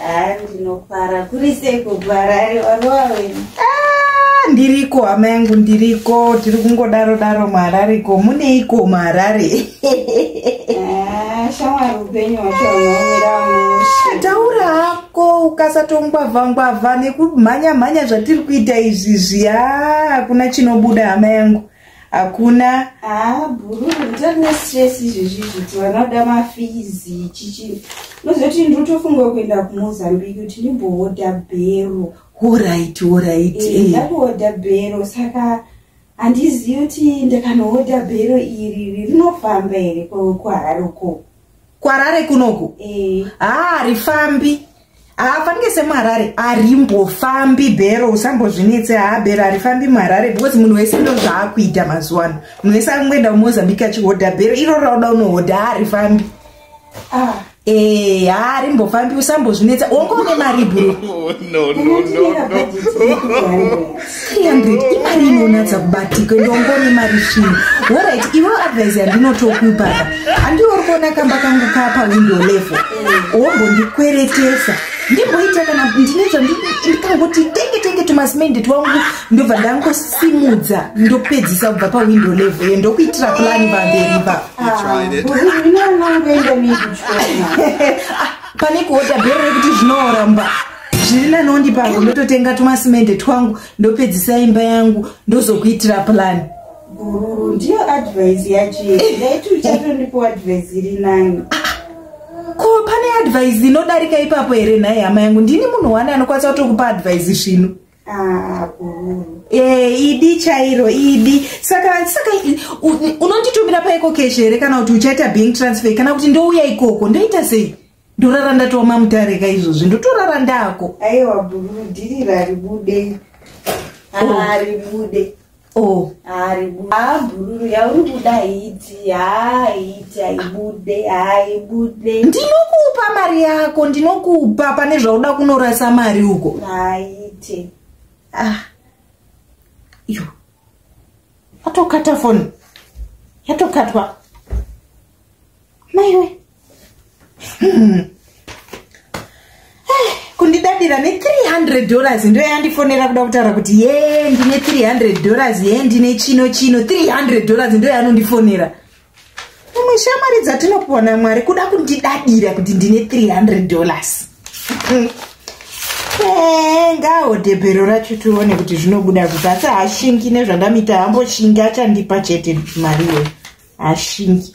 Ah, ndinofara kuri sei kuharare varova wena Ah, ndiriko hama yangu ndiriko tiri kungodaro daro muharariko muneiko muharare Ah, shamwari upenyu hwacho hunomira mushe taura hako ukasatongwavha ngwavha nekumhanya mhanya zvatiri kuita izvi zviya hakuna chinobuda hama yangu hakuna ah, bhuru nditori nestress izvezvi zviti vana kuda mafizi chichi nozoti ndiri kutofunga kuenda kumozambique kuti ndimbohodha bhero horit horit eh, eh. ndakuhodha bhero saka handizivi kuti ndakanohodha bhero iri rinofamba here kuharare ukoko kwarare kunoku eh. haa rifambi haafanike semuharare arimbofambi bhero usambozvinetse haa bhero harifambi muharare because munhu wese ndo zvaakuita mazuva ano munhu wese akungoenda kumozambique achihodha bhero iro rauda unohodha haarifambi ah. ee haarimbofambi usambozvinetsa wongoone mari bhero 300 imari inonatsa kubatika ende ungori imari shii orit ivo advise yandinotokuipaka andiwo uri kuona kamba kangu kapa window level wombondikweretesa ndimboita kana ndine zvandikangoti tenge tenge tumasmendi twangu ndobva ndangosimudza ndopedzisa kubva pawindo level yo ndokuitira plani pamberi pa ah, pane kuoda bhero rekuti zvinoramba zviri nanondi pavo ndototenga tumasimende twangu ndopedzisa imba yangu ndozokuitira plan gururu ndiyo advise yachii ndaiti uchatondipo advise iri nani ko pane advise inodarika ipapo here nhai hama yangu ndini munhu wani anokwanisa kutokupa advise zvino ah, eh, idi chairo idi saka saka unonditumira paiko keshe here kana kuti uchaita bank transfer kana kuti ndouya ikoko ndoita sei ndorara ndatiwa mamutareka izvozvi ndotorara ndako aiwa bhururu dhiri raribude haribude o oh. haribude oh. haa bhururu yauri kuda haiti haa haiti haibude haibude ndinokupa mari yako ndinokupa pane zvauda kunorasa mari uko haite ah iyo atokata foni yatokatwa maiwe hmm. eh, kundidadira ne300 dollars ndo yandifonera kuda kutaura kuti ye ndine 300 dollars ye ndine chino chino 300 dollars ndo yanondifonera imwe shamwari dzatinopiwa namwari kuda kundidadira kuti ndine 300 dollars hmm. Eh, ngawo debhero racho tione kuti zvinobuda kuti asi hashingi nezvandamita hamboshingi achandipa chete mari iyoyo hashingi